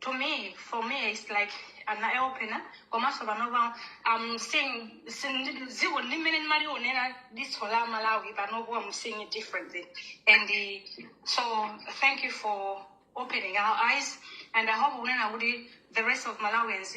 to me for me it's like an eye opener komanso panopa i'm seeing sin- dziko limene ndimalionera diso la malawi panopo i'm seeing it differently and uh, so thank you for opening our eyes and i hope unena kuti the rest of malawians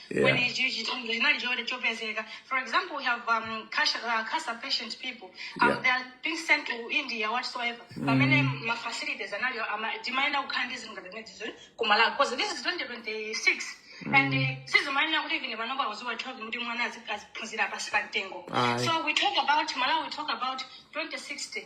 Yeah. when it- it- it- linali choti chopezeka for example we have um, cash, uh, cancer patient people um, Yeah. they are being sent to india whatsoever pamene ma facilities anali ama- timayenera kukhala ndi zinthu ngati zimenezo because this is 2026 and uh, sizimayenera kuti even panopa uziwona kuti mwana azi- aziphunzira pasi pa mtengo Aye. so we talk about malawi we talk about 2060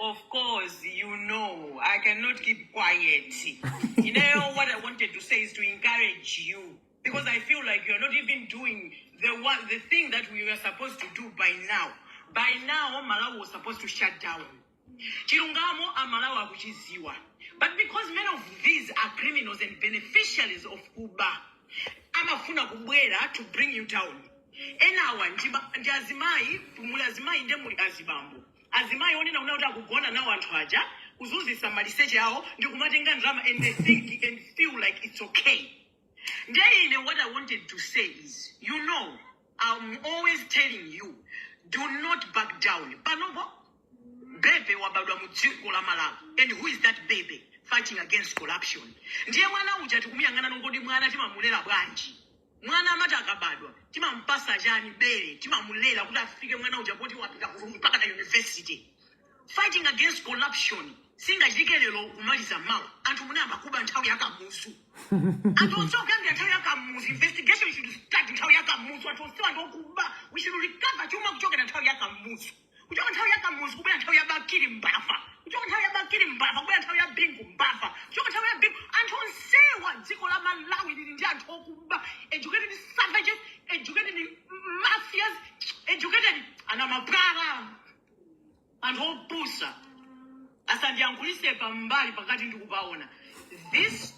Of course, you know, I cannot keep quiet. you know, what I wanted to say is to encourage you because I feel like you're not even doing the one, the thing that we were supposed to do by now. By now, Malawi was supposed to shut down. Chilungamo amalawa kuchiziwa. But because many of these are criminals and beneficiaries of Uber, amafuna kubwera to bring you down. Enawa ndi ba- ndi azimayi, muli azimayi ndi muli azibambo. Azimayi onena kunena kuti akugona nawo anthu aja, kuzunzisa maliseche awo ndi kumatenga ndrama and they think and feel like it's okay. Ndiye ine what I wanted to say is, you know, I'm always telling you, do not back down. Panopo, bebe wabadwa mu dziko la Malawi. And who is that baby fighting against corruption? Ndiye mwana uja tikumuyang'ana ngoti mwana timamulera bwanji. Mwana amat akabadwa timampasa chani bere timamulera kuti afike mwana uja poti wapita ku mpaka na university fighting against corruption singachitike lero kumaliza mawa anthu anayamba kuba nthawi yakamuzu anthu onse okuyambira nthawi yakamuzu investigation should start nthawi yakamuzu anthu onsewa ndi okuba we should recover chuma kuchokera nthawi yakamuzu kuchoka nthawi ya kamuzu kubwera nthawi ya bakili mbava kuchoka nthawi ya bakili mbava kubwera nthawi ya bingu mbava kuchoka nthawi ya bingu anthu onsewa dziko la malawi lili ndi anthu okuba educated savages educated mafias educated ana mapwala anthu opusa asandiyankhulise pambali pakati ndikupaona this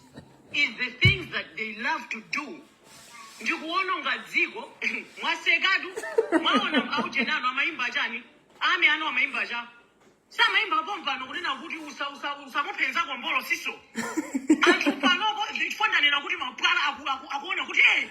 is the things that they love to do ndikuononga dziko mwasekatu mwaona aujeni anu amaimba chani ame ano amaimba cha samaimba pompano kunena kuti usa- usa- usamuphenza kombolo siso anthu panopo ndifananena kuti mapwala aku- aku- akuona kuti eh,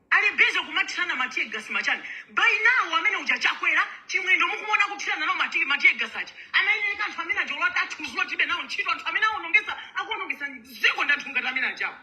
Ali busy kumathirana ma tear gas ma chani. By now amene uja Chakwera, Chimwendo mukumuona akuthirana nawo ma tear ma tear gas aja. Anayenereka anthu amene aja olo atati athudzulane tilibe nawo ntchito anthu amene awonongesa akuwonongesa dziko ndi anthu ngati amene ajawo.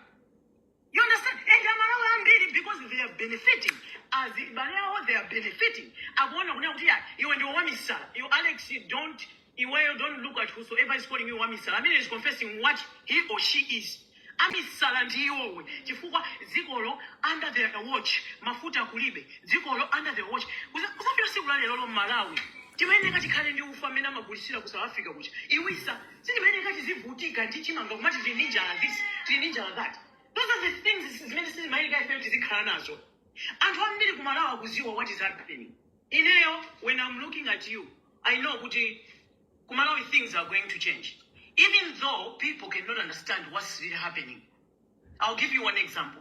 You understand? And Amalawi ambiri because they are benefiting. Azibale awo, they are benefiting. Akuona kunena kuti ya, iwe ndiwe wamisala. You Alex, you don't Iweyo don't look at whosoever is calling you wamisala amene is confessing what he or she is amisala ndi iwowe chifukwa dzikolo under their watch mafuta kulibe dzikolo under their watch Kuza- kuzafika siku la lerolo Malawi timayeneka tikhale ndi ufa amene amagulisira ku south africa kuja iwisa sitimayeneka tizivutika ndi chimanga kumati tili ndi njala this tili ndi njala that those are the things zimene sitimayeneka ifeyo tizikhala nazo anthu ambiri kumalawi akuziwa what is happening Ineyo when am looking at you I know kuti ku Malawi things are going to change even though people cannot understand what's really happening. I'll give you one example.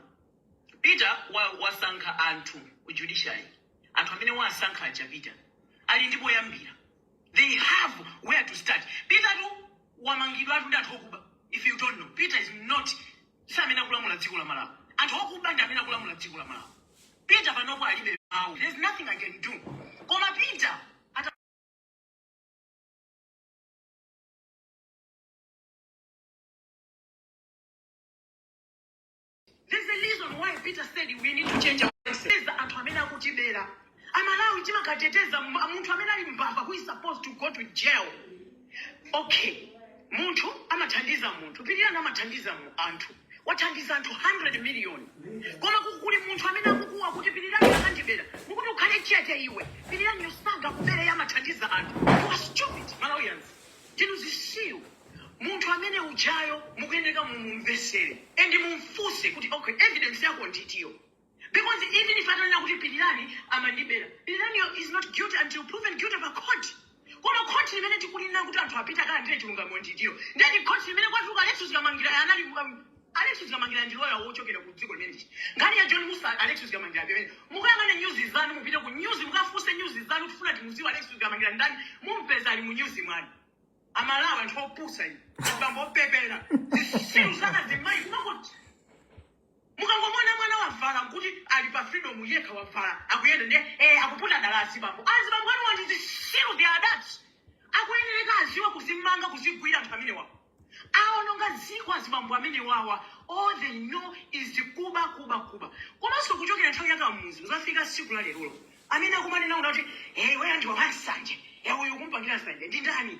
Peter wa, wasankha anthu ku judiciary anthu amene wasankha aja Peter ali ndi poyambira they have where to start. Peter tu wamangidwatu ndi anthu okuba if you don't know Peter is not si amene akulamula dziko la Malawi. Anthu okuba ndi amene akulamula dziko la Malawi. Peter panopo alibe mawu. There's nothing I can do. Koma Peter ata There's a reason why Peter said we need to change our voices. There's the anthu amene akutibera. amalawi timakateteza m- munthu amene ali mbava who is supposed to go to jail okay munthu amathandiza munthu pilirani amathandiza mu- anthu wathandiza anthu 100 million koma ku- kuli munthu amene akukuwa kuti pilirani akandibera mukuti ukhale chete iwe piliraniyo sangakubere amathandiza anthu you are stupid malawians ndinu zitsiru munthu amene ujayo mukuyeneka mumumvesere and mumfuse kuti okay evidence yako nditiyo because even if atanena kuti pilirani amandibera piliraniyo is not guilty until proven guilty pa court koma khoti limene tikulina kuti anthu apite akalandire chilungamo ndilo ndiye ndi khoti limene kwatuluka alexious kamangila anali um, alexious kamangila ndi loya wochokera ku dziko limeneli nkhani ya john musa alexious kamangila pamene mukayang'ana nyuzi zanu mupite ku nyuzi mukafunse nyuzi zanu kufuna timudziwa alexious kamangila ndani mumpeza ali mu nyuzi mwanu amalawi anthu opusa inu abambo opepera zitsiru za azimayi kumangoti Mukangomuona mwana wavala nkuti ali pa freedom yekha wavala akuyenda ndiye eh, akuputa dala azibambo azibambo anuwa ndi zitsiru they are thugs akuyenereka adziwe kudzimanga kudzigwira anthu amenewawa awononga dziko azibambo amenewawa all they know is kuba kuba kuba komanso kuchokera nthawi yakamuzu kudzafika tsiku la lerolo amene akumanena kuti hey, iweyo ndiwe wansanje hey, uyu kumpangira nsanje ndi ndani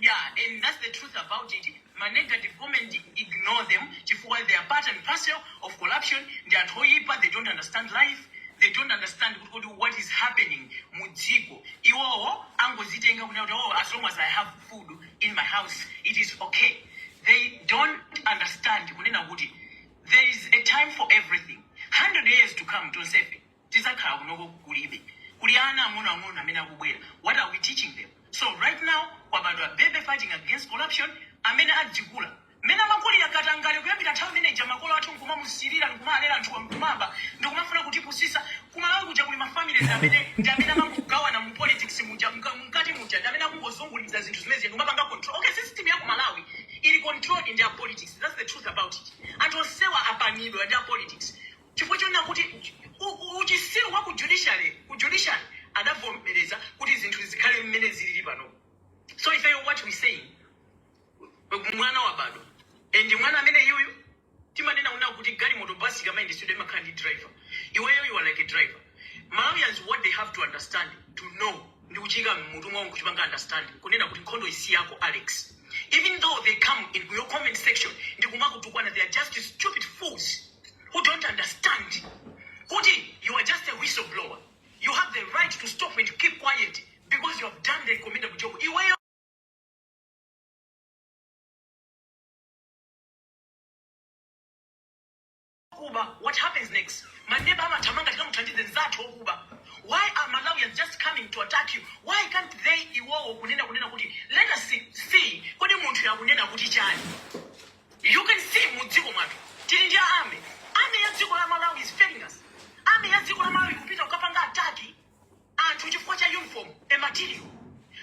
yeah and that's the truth about it ma negative comment ignore them chifukwa they are part and parcel of corruption ndi anthu oyipa they don't understand life they don't understand kuti kodi what is happening mu dziko iwowo angozitenga kunena kuti oh as long as i have food in my house it is okay they don't understand kunena kuti there is a time for everything 100 years to come tonsefe tidzakhala kunoko kulibe kuli ana ang'onoang'ono amene akubwera what are we teaching them so right now kwabadwa baby fighting against corruption amene azikula mmene amakulira katangale kuyambira nthawi imene ija makolo athu nkumamusirira ndikumalera anthuwa nkumaba ndikumafuna kutipusitsa kumalawi kuja kuli mafamilies amene ndi amene amangogawana mu politics muja mka- mkati muja ndi amene akungozunguliza zinthu zimene zija ndikumapanga control okay system ya kumalawi ili controlled ndi a politics that's the truth about it anthu onsewa apanidwa ndi a politics chifukwa chonena kuti u- uchitsiru wa ku judiciary ku judiciary adavomereza kuti zinthu zikhale mmene zilili pano so ifeyo what we saying mwana wabadwa and mwana amene iyoyo timanena una kuti galimoto basi ikamayendetsedwa imakhala ndi driver iweyo you are like a driver malawians what they have to understand to know ndi kuchiika mmutu mwawo nkuchipanga understand kunena kuti nkhondoyi si yako alex even though they come in your comment section ndi kumakutukwana they are just stupid fools who don't understand kuti you are just a whistleblower you have the right to stop and keep quiet because you have done the commendable job iweyo kuba what happens next maneba amathamanga tikamuthandize nzathu okuba why are malawians just coming to attack you why can't they iwowo kunena kunena kuti let us see, see kodi munthu yakunena kuti chani You can see mu dziko mwathu tili ndi a army. Army ya dziko la Malawi is failing us. Army ya dziko la Malawi kupita kukapanga attack anthu chifukwa cha uniform material.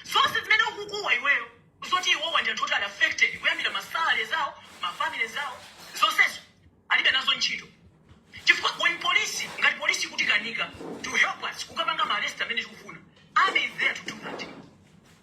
Zonse zimene ukukuwa iweyo zoti iwowa ndi anthu oti ali affected kuyambira ma salary zawo, ma family zawo, zonsezo alibe nazo ntchito. Chifukwa when police ngati police ikutikanika to help us kukapanga ma arrest amene tikufuna. Army is there to do that.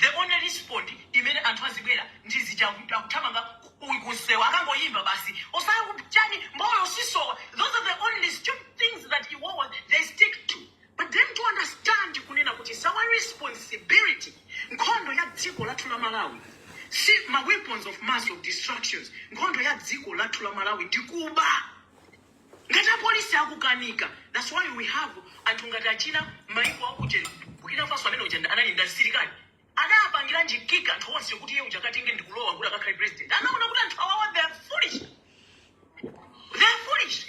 The only respond imene anthu azibwera ndi zija aku- akuthamanga ku- ku- kunsewu akangoyimba basi osaya kuchani mbolo sisowa those are the only stupid things that iwowa they stick to but then to understand kunena kuti it's our responsibility nkhondo ya dziko lathu la malawi si ma weapons of mass of destructions nkhondo ya dziko lathu la malawi ndi kuba Ngati apolisi akukanika that's why we have anthu ngati achina maiko akujeni Burkina Faso amene uja anali ndi asilikali adapangiranji kick anthu onse kuti iye uja akatenge ndi kulowa kuti akakhale president anaona kuti anthu awawa they are foolish they are foolish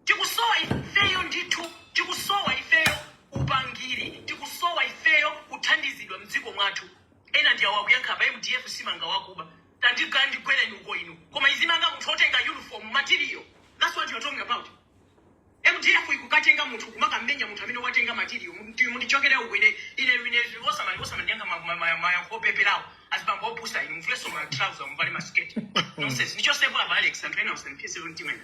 tikusowa ifeyo ndithu tikusowa ifeyo upangiri tikusowa ifeyo kuthandizidwa mdziko mwathu ena ndi awa akuyankha apa mdf simanga wakuba Tandikandigwereni uko inu koma izimanga munthu otenga uniform material that's what you're talking about mdf ikukatenga munthu kumakamenya munthu amene watenga material Mundi- mundichokere uko ine ine ine osamali osamandiyankha ma- ma- ma- mayankho opeperawo azibambo opusa inu muvulenso ma trouser muvale masiketi nonsense ndichotsepo apa alex anthu ena usampie 17 wena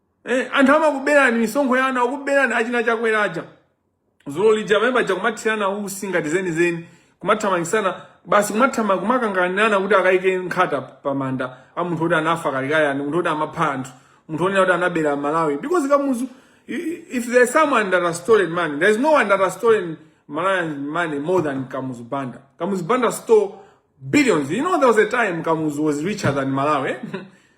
Eh, anthu amakuberani misonkho yanu akuberani achina chakwera aja dzulo lija pamene paja kumathirana utsi ngati zenizeni kumathamangisana basi kumathama- kumakanganirana kuti akayike nkhata pamanda a munthu oti anafa kalekale ani munthu oti amapha anthu munthu onena kuti anabera malawi because kamuzu i- i- if there is someone that has stolen money there is no one that has stolen malawian money more than kamuzu banda kamuzu banda stole billions you know there was a time kamuzu was richer than malawi eh?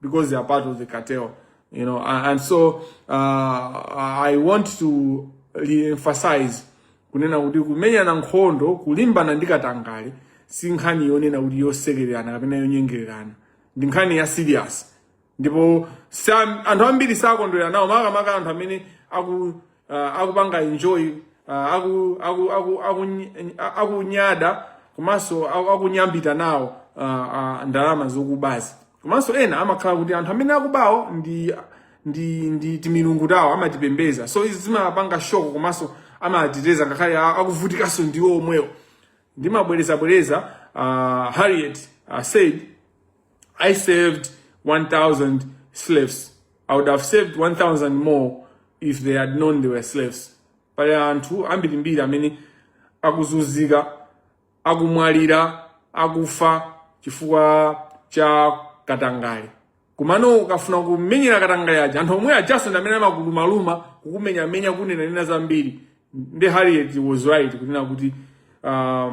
because they are part of the cartel, you know. And, and so uh, I want to re-emphasize kunena kuti kumenyana nkhondo kulimbana ndi katangale si nkhani yonena kuti yosekererana kapena yonyengererana ndi nkhani ya serious ndipo anthu ambiri sakondwera nawo makamaka anthu amene aku uh, akupanga enjoy uh, aku, aku, aku, aku, akunyada komanso aku- akunyambita nawo uh, uh, ndalama zokubazi komanso ena amakhala kuti anthu amene akubawo ndi ndi ndi timilungu tawo amatipembeza so izi zimapanga shock komanso amateteza ngakhale a- akuvutikanso ndiwo omwewo ndimabwerezabwereza uh, harriet uh, said I saved 1,000 slaves. I would have saved 1,000 more if they had known they were slaves. Pali anthu ambirimbiri amene akuzunzika, akumwalira, akufa chifukwa cha katangale. Komano ukafuna kumenyera katangale aja anthu omwe ajaso ndi amene amakulumaluma kukumenyamenya kunenanena zambiri. Nde Harriet was right kunena kuti uh,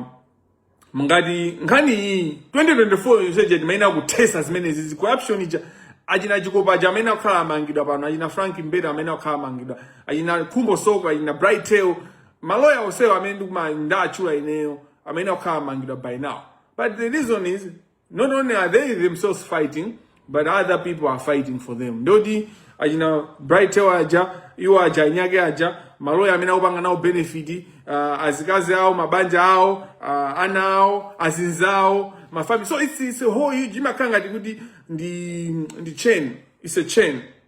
ngati nkhani iyi 2024 yonseyi timayenera kuthesa zimene zi za corruption ija achina chikopa aja amene akakhala amangidwa pano achina frank mbeta amene akakhala amangidwa achina khumbo soko achina bright tail maloya onsewo amene ndikumawatchula ineyo amene akakhala amangidwa by now but the reason is not only are they themselves fighting but other people are fighting for them ndoti achina bright tail aja iwo aja anzake aja maloya amene akupanga nawo benefit uh, azikazi awo mabanja awo uh, ana awo azinzawo mafamily so it's, it's a whole huge imakhala ngati kuti ndi ndi chain it's a chain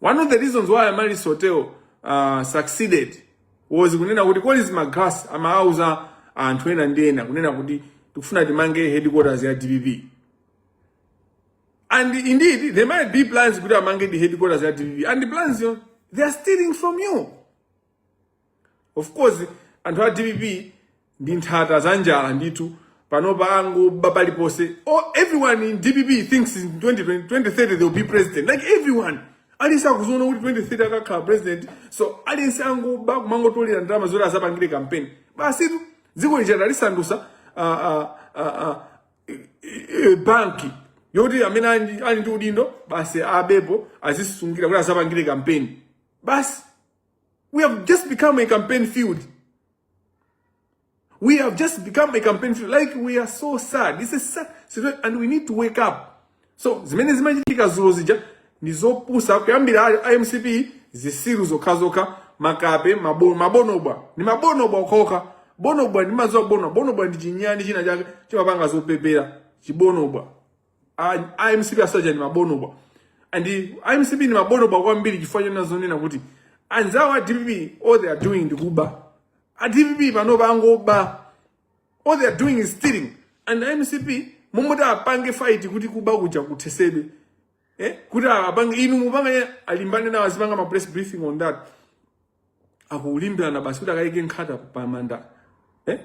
One of the reasons why Amaris Hotel uh, succeeded was kunena kuti Collins Magalasi amauza anthu ena ndi ena kunena kuti tikufuna timange headquarters ya DPP. And indeed, there might be plans kuti amangedi headquarters ya DPP. And the plans izo, they are stealing from you. of course anthu a dpp ndi nthata za njala ndithu panopa angoba paliponse oh, everyone in dpp thinks in 2020, 2030 they will be president like everyone aliyense akuziona kuti 2030 akhala president so aliyense akungoba kumangotolera ndalama zoti azapangire kampeni basitu dziko lija alisandusa uh, uh, uh, uh, banki yoti amene ali ndi udindo basi abepo azisungira kuti azapangire kampeni basi We have just become a campaign field. We have just become a campaign field. Like we are so sad. This is sad situation and we need to wake up. So zimene zimachitika zulo zija ndi zopusa kuyambira a- a MCP zisiru zokhazokha makape mabo- mabonobwa ni mabonobwa okhaokha bonobwa ndimazo a bonobwa bonobwa ndi chinyani china chake chimapanga zopepera chibonobwa a mcp onse aja ndi mabonobwa and a mcp ndi mabonobwa kwambiri chifukwa chonena zonena kuti anzawo a dpp all they are doing ndi kuba a dpp panopa angoba all they are doing is stealing and a mcp m'malo moti apange fight kuti kuba kuja kuthesedwe eh? kuti apange ujeni apange alimbane nawo azipanga ma press briefing on that akulimbirana basi kuti akayike nkhata pa manda eh?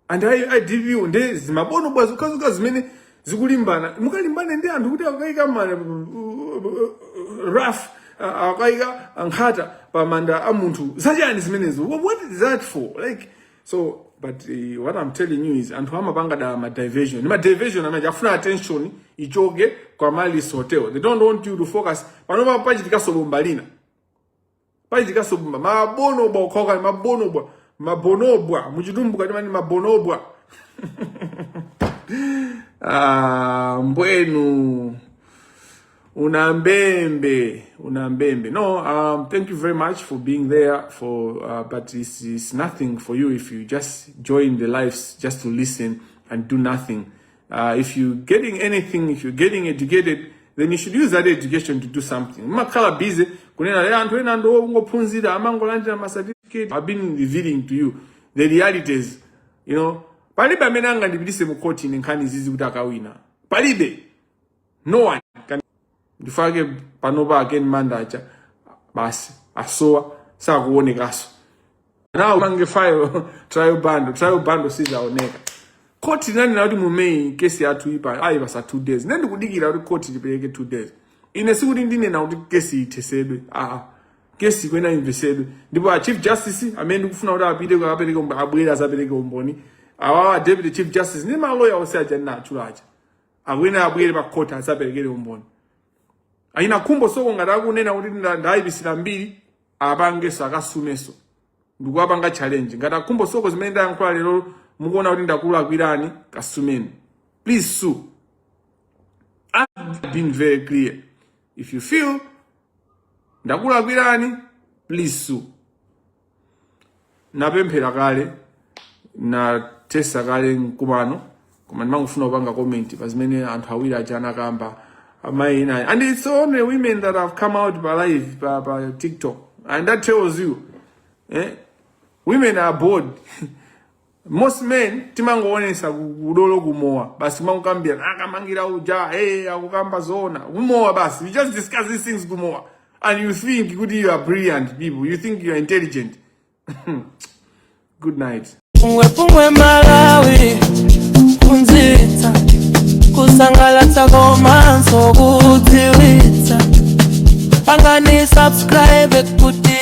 and a DPP nde zimabonobo zokhazokha zimene zikulimbana mukalimbane ndi anthu kuti akayika manda wreath akayika nkhata pa manda a munthu zachani zimenezo Wha- what is that for like so but eh, what i'm telling you is anthu amapanga dala ma diversion ma diversion amene afuna attention ichoke kwa Amaryllis hotel they don't want you to focus panopa pachitikaso bomba lina pachitikaso bumba mabonobwa okhaokani mabonobwa mabonobwa muchitumbuka timati mabonobwa ah, mbwenu una mbembe una mbembe no um, thank you very much for being there for uh, but it's, it's nothing for you if you just join the lives just to listen and do nothing Uh, if you're getting anything, if you're getting educated, then you should use that education to do something. Mumakhala busy, kunena ayi anthu ena ndo ongophunzira amangolandira ma certificate. I've been revealing to you the realities, you know. Palibe amene angandipitise mu court ine nkhani izizi kuti akawina. Palibe. no one can ndi fake panopa a Ken manda aja basi asowa sakuonekaso nawo mange file trial bundle trial bundle sizaoneka khoti linanena kuti mu May kesi yathuyi pa ayipasa two days ine ndikudikira kuti khoti lipereke two days ine sikuti ndinena kuti kesi ithesedwe aa kesi ikuyenera imvesedwe ndipo a chief justice amene ndikufuna kuti apite kuti akapereke umbo- abwere azapereke umboni awawa deputy chief justice ndi maloya onse aja ndinatchula aja awina abwere pa court azaperekere umboni achina khumbo soko ngati akunena kuti ndayipisira mbiri apangeso akasumeso ndikuwapanga challenge ngati a khumbo soko zimene ndayankhula lero mukuona kuti ndakulakwirani kasumeni please sue I've been very clear if you feel ndakulakwirani please sue napemphera kale nathesa kale mkumano koma ndimangofuna kupanga comment pa zimene anthu awiri aja anakamba amayi inayi and it's only women that have come out pa live pa, pa tiktok and that tells you eh? women are bold most men timangoonesa ku- udolo kumowa basi kumangokambirana a Kamangila uja hey, akukamba zoona kumowa basi we just discuss these things kumowa and you think kuti you are brilliant people you think you are intelligent good night Pungwe pungwe Malawi Kuphunzitsa Kusangalatsa komanso kudziwitsa Pangani subscribe kuti